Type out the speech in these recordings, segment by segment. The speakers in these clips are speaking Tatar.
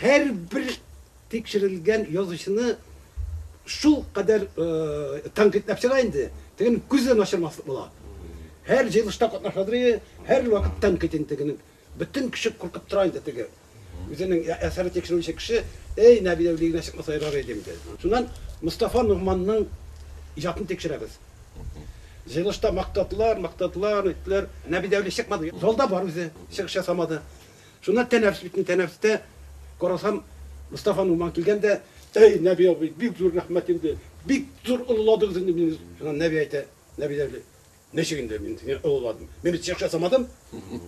Һәрбер тикшерелгән язучыны шулкадәр тәнкыйтьләп чыга инде, тегенең күзе дә начармаслык була. Һәр җыелышта катнашадыр, һәрвакыт тәнкыйть инде тегенең. Бөтен кеше куркып тора инде теге. Үзенең әсәрен тикшерүче кеше, әй, Нәби Әүлия генә чыкмаса ярар иде инде. Шуннан Мостафа Ногманның иҗатын тикшерәбез. Җыелышта мактадылар, мактадылар, әйттеләр, Нәби Әүлия чыкмады. Залда бар үзе, чыгыш ясамады. Шуннан тәнәфес бит инде, тәнәфестә карасам, Мостафа Нугман килгән дә, Әй, Нәби абый, бик зур рәхмәт инде, бик зур олыладыгыз инде мине. Шуннан Нәби әйтә, Нәби әби, ничек инде мин сине олыладым? Мин бит чыгыш ясамадым,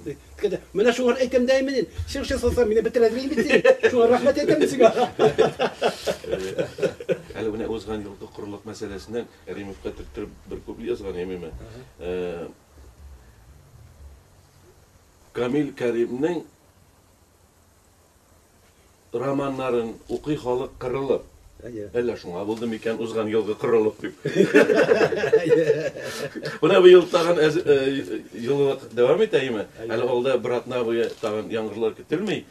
ди. Дигән дә, Менә шуңар әйтәм дә инде мин, чыгыш ясасаң, мине бетерәдер инде бит син, шуңа рәхмәт әйтәм мин сиңа. Әле менә узган елгы корылык мәсьәләсеннән Кәримовка төрттереп бер куплет язган идем, әмма Камил Кәримнең романнарын укый халык кырылып. Әллә шуңа булды микән узган елгы корылык дип. Менә быел тагын җылылык дәвам итә име? Әле алда бер атна буе тагын яңгырлар көтелми.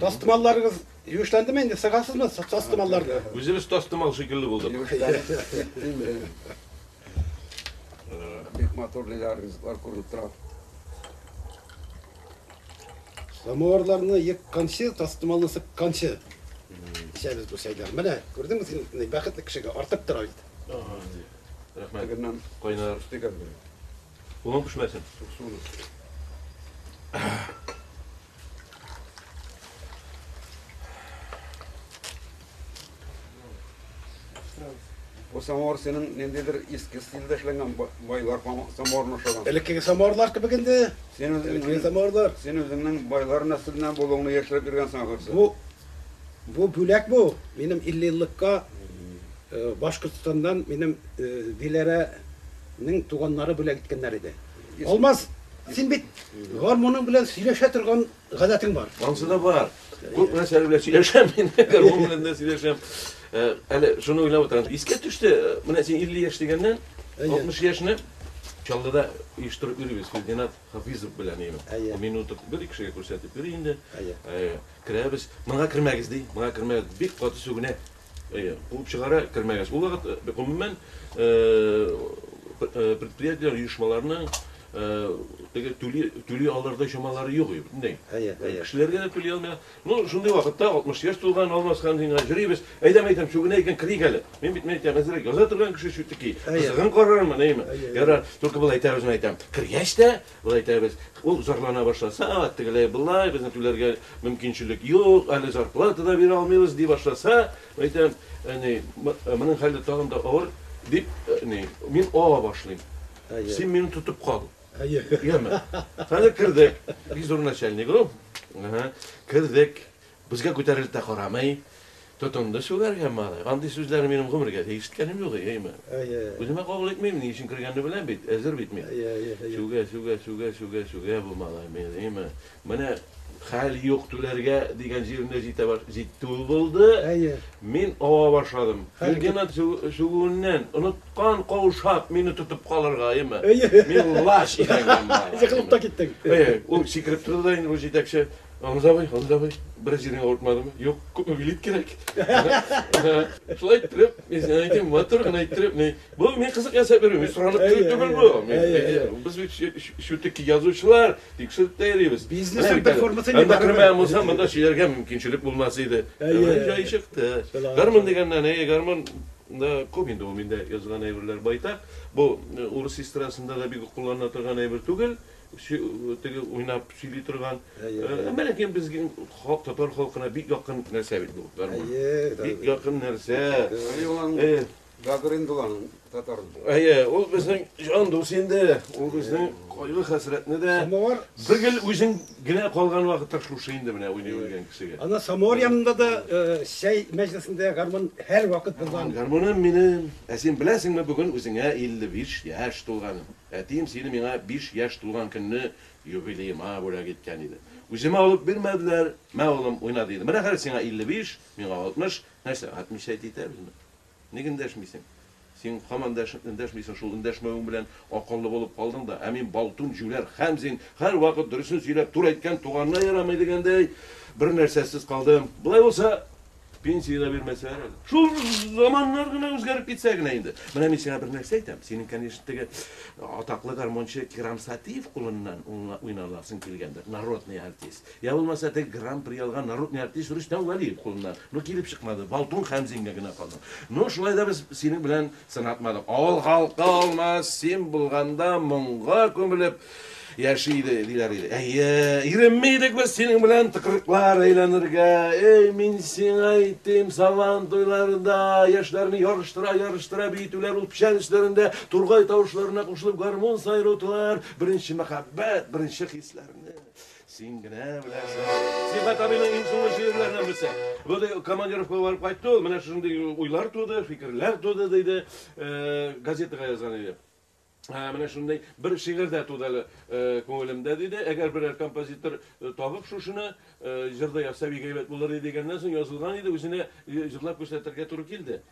Тастымалларыгыз юешләндеме инде? Сыгасызмы тастымалларны? Үзебез тастымал шикелле булдык. Бик матур лилар, ризыклар күренеп тора. Самуарларны екканчы, тастымалны сыкканчы эчәбез бу чәйләр. Менә, күрдеңме син, бәхетле кешегә артып тора бит. Рәхмәт. Кайнар. Кулың пешмәсен. Бу самовар синең ниндидер иске стильдә эшләнгән байлар самоварына охшаган. Элеккеге самоварлар кебек инде. Син үзеңнең самоварлар. Син үзеңнең байлар нәселеннән булуыңны яшереп йөргәнсең ахрысы. Бу бу бүләк бу. Минем 50 еллыкка э, Башкортстаннан минем э, Диләрә Нең туганнары бүләк иткәннәр иде. Алмаз, син бит гармуның белән сөйләшә торган гадәтең бар. Ансы да бар. Күп нәрсәләр белән сөйләшәм мин, гармун белән дә сөйләшәм. Э, әле шуны уйлап утырам. Искә төште, э, менә син 50 яшь дигәннән, 60 яшьне Чаллыда оештырып йөрибез Филдинат Хафизов белән имин. Әйе. Мин утып бер ике кешегә күрсәтеп йөри инде. Әйе. Э, керәбез. Моңа кермәгез ди. Моңа кермәгез. Бик каты сүгенә. Әйе, куып чыгара, кермәгәч. Ул вакыт, гомумән, предприятиеләр, оешмаларның теге түли, түли алырдай чамалары юк иде, бөтенләй. Әйе, әйе. Кешеләргә дә түли алмый. Ну, шундый вакытта 60 яшь тулган Алмасхан сиңа җөрибез. Әйдәм, әйдәм, чүгенә икән, керик әле. Мин бит, мин әйтәм, әзрәк яза торган кеше чүтеки. Кызыгын карармын, әйеме? Ярар, только болай әйтәбез, мин әйтәм. Кергәч тә, Болай итәбез, ул зарлана башласа, тегеләй, болай, безнең түләргә мөмкинчелек юк, әле зарплата да бирә алмыйбыз, ди башласа, әйтәм, әни, моның хәле тагын да авыр, дип, әни, мин ава башлыйм. Син мине тотып кал. Яме. Хәзер кердек. Бик зур начальник ул. Кердек. Безгә күтәрелеп тә карамый, тотынды сүгәргә малай. Андый сүзләрне минем гомергә дә ишеткәнем юк, әйеме? Үземә кабул итмим, ни өчен кергәнне беләм бит, әзер бит мин. Сүгә, сүгә, сүгә, сүгә, сүгә бу малай мине, әйеме? Менә хәл юк, түләргә дигән җиренә җитә баш, җитте ул булды. Мин ава башладым. Лейтенант сүгүеннән оныткан, каушап, мине тотып калырга, әйеме? Мин лач идәнгә малай. Егылып та киттең. Әйе, ул сикереп торды да инде бу җитәкче. Гамза абый, Гамза абый, бераз җирең авыртмадымы? Юк, күпме билет кирәк? Шулай иттереп, мин сиңа әйтәм, матур гына иттереп, мин бу мин кызык ясап йөрим, мин соранып килү түгел бу. Без бит шүтеки язучылар, тикшереп тә йөрибез. Бизнесның бер формасы инде бар. Күрмәгән булсам, монда сөйләргә мөмкинчелек булмас иде. Җай чыкты. Гармун дигәннән, әй, гармун да күп инде ул миндә язган әйберләр байтак. Бу урыс эстрадасында да бик кулланыла торган әйбер түгел. Теге уйнап сөйли торган. Әмәләкәй безнең халык татар халкына бик якын нәрсә бит бу. Бик якын нәрсә. Гагрин булган татар. Әйе, ул безнең җан дус инде. Ул безнең кайгы хәсрәтне дә. Самовар. Бер гел үзең генә калган вакытта шушы инде менә уйный белгән кешегә. Ана самовар янында да чәй мәҗлесендә гармун һәрвакыт булган. Гармуным минем. Ә син беләсеңме, бүген үзеңә 55 яшь тулганым. Әтием сине миңа биш яшь тулган көнне юбилеема бүләк иткән иде. Үземә алып бирмәделәр, Мә, улым, уйна, диде. Менә хәзер сиңа илле биш, миңа алтмыш. Нәрсә, һатмичә әйтә итәбезме? Ник эндәшмисең? Син һаман да эндәшмисең шул, эндәшмәвең белән акыллы булып калдың да. Ә мин балтун, җүләр, хәмзин, һәрвакыт дөресен сөйләп, туры әйткән туганына ярамый дигәндәй, бернәрсәсез калдым. Болай булса, Пенсия дә бирмәсәләр әле. Шул заманнар гына үзгәреп китсә генә инде. Менә мин сиңа бер нәрсә әйтәм. Синең, конечно, теге атаклы гармончы Кирам Сатиев кулыннан уйналасың килгәндер. Народный артист. Я булмаса теге гран-при алган народный артист Рөстәм Валиев кулыннан. Ну, килеп чыкмады. Балтун Хәмзингә генә калды. Ну, шулай да без синең белән Сынатмадым. Авыл халкы алмас, син булганда моңга күмелеп яши иде, диләр иде. Әйе, иренми идек без синең белән тыкрыклар әйләнергә. Эй, мин сиңа әйтим, сабан туйларында яшьләрне ярыштыра, ярыштыра биетүләр ул печән өсләрендә тургай тавышларына кушылып гармун сайрутылар. Беренче мәхәббәт, беренче хисләрне. Син генә беләсең. Сибат абыйның иң соңгы шигырьләреннән берсе. Бу да командировкага барып кайтты ул, менә шушындый уйлар туды, фикерләр туды диде, э, газетага язган иде. Ә, менә шундый бер шигырь дә туды әле э, күңелемдә диде. Әгәр берәр композитор э, табып шушыны э, җырда язса бик әйбәт булыр иде дигәннән соң язылган иде, үзенә э, җырлап күрсәтергә туры килде.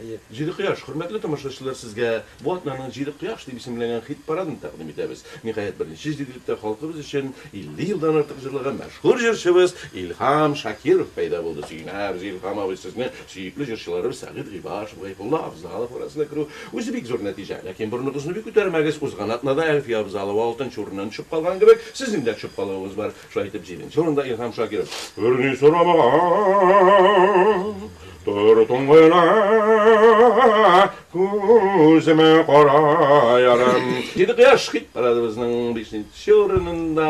Әйе, Җиде кояш, хөрмәтле тамашачылар, сезгә бу атнаның Җиде кояш дип исемләнгән хит-парадын тәкъдим итәбез. Ниһаять, беренче җиделектә халкыбыз өчен 50 елдан артык җырлаган мәшһүр җырчыбыз Илһам Шакиров пәйда булды. Сөенәбез, Илһам абый, сезне сөекле җырчыларыбыз Сәгыйть Гыйбашев, Гайфулла Авзалов арасына керү үзе бик зур нәтиҗә. Ләкин борыныгызны бик күтәрмәгез, узган атнада Әлфия Авзалова алтынчы урыннан төшеп калган кебек, сезнең дә төшеп калуыгыз бар. Шулай итеп, җиденче урында Илһам Шакиров. Берни сорамаган тор туңгыла, күземә кара ярым. Диде кояш! Хит парадыбызның бишенче урынында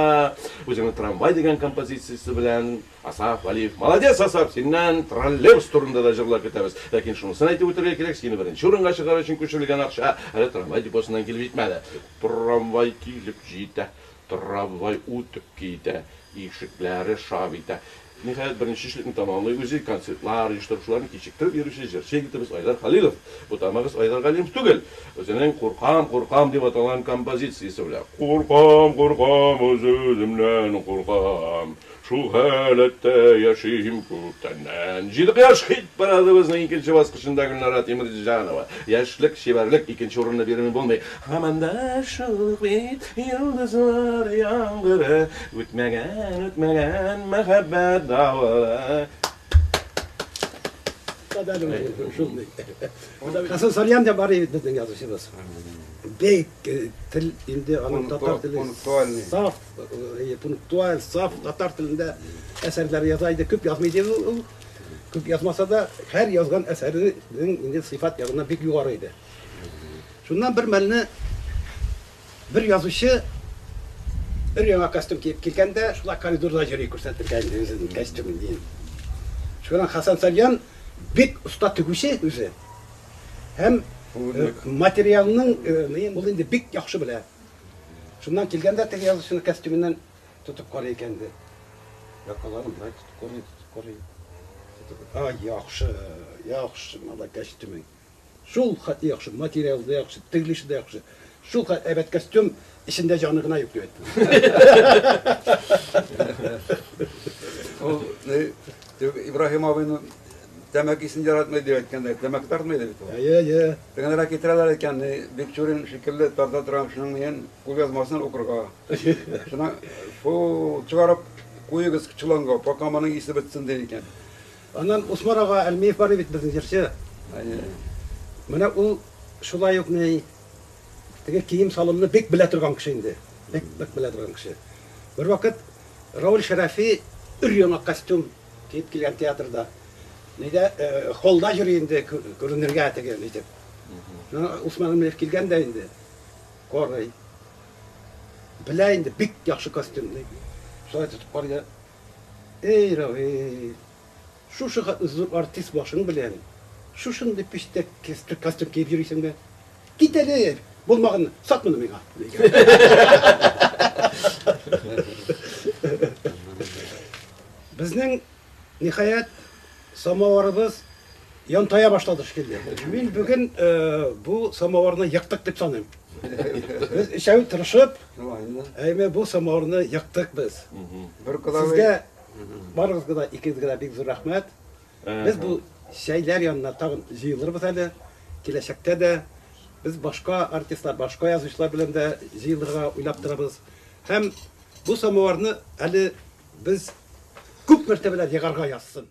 Үзеңне трамвай дигән композициясе белән Асаф Вәлиев. Молодец, Асаф, синнән троллейбус турында да җырлар көтәбез. Ләкин шунысын әйтеп үтәргә кирәк, сине беренче урынга чыгару өчен күчерелгән акча әле трамвай депосыннан килеп җитмәде. Трамвай килеп җитә. Трамвай үтеп китә, ишекләре шап итә. Ниһаять, беренчечлекне тәмамлый үзе, концертлар оештыручыларны кичектереп йөрүче җырчы егетебез Айдар Хәлилов. Бутамагыз Айдар Галимов түгел. Үзенең Куркам, куркам дип аталган композициясе белән. Куркам, куркам, үз-үземнән куркам. Шул халәттә яшим күптәннән. Җиде кояш хит парадыбызның икенче баскычында Гөлнара Тимерҗанова, Яшьлек, чибәрлек, икенче урынны бирми булмый. Һаман да шул ук бит йолдызлар яңгыры, үтмәгән, үтмәгән мәхәббәт давылы. Кадәрле шундый. Хәсән Салиан да бар иде безнең язучыбыз. Бик тел инде аның татар теле саф. Пунктуаль, саф татар телендә әсәрләр яза иде. Күп язмый иде ул. Күп язмаса да, һәр язган әсәренең инде сыйфат ягына бик югары иде. Шуннан бер мәлне бер язучы бер яңа костюм киеп килгәндә, шулай коридорда йөри күрсәтергә инде үзенең костюмын дигән. Шуннан Хасан Сальян бик оста тегүче үзе. Һәм материалның ул инде бик яхшы белә. Шуннан килгән дә теге язучының костюмыннан тотып карый икән ди. Якаларын болай тотып карый, тотып карый. Тотып, Ай, яхшы, яхшы, мала костюмың. Шул хәтле яхшы, материал да яхшы, тегелеше дә яхшы. Шул хәтле әйбәт костюм, эчендә җаны гына юк дип әйтте. Ибраһим абыйның тәмәкесен яратмый дип әйткәндә, тәмәке тартмый иде бит ул. Әйе, әйе. Тыгынрак китерәләр икән, ни, Бикчурин шикелле тарта торган кешенең миен, кулъязмасын укырга. Шуннан, Фу, чыгарып куегыз чоланга, пока моның исе бетсен, ди икән. Аннан Усман ага Әлмиев бар бит безнең җырчы. Әйе. Менә ул шулай ук, ни, теге кием-салымны бик белә торган кеше инде. Бик-бик белә торган кеше. Бервакыт Рауль Шәрәфи өр-яңа костюм Дип килгән театрда. Нидә холда йөри инде күренергә теге итеп. Усман Гамлиев килгән дә инде. Корый. Белә инде бик яхшы костюм ди. Шулай тотып карый. Эй, Равил. Шушы зур артист башың белән шушындый пиштәк костюм киеп йөрисең дә. Кит әле, булмаган, сат моны миңа. Безнең, ниһаять, самоварыбыз янтая башлады шикелле. Мин бүген э, бу самоварны яктык дип саныйм. Без өчәү тырышып, әйме бу самоварны яктык без. Бер Сезгә барыгызга да икегезгә дә бик зур рәхмәт. Без бу чәйләр янына тагын җыелырбыз әле. Киләчәктә дә без башка артистлар, башка язучылар белән дә җыелырга уйлап торабыз. Һәм бу самоварны әле без күп мәртәбәләр егарга язсын!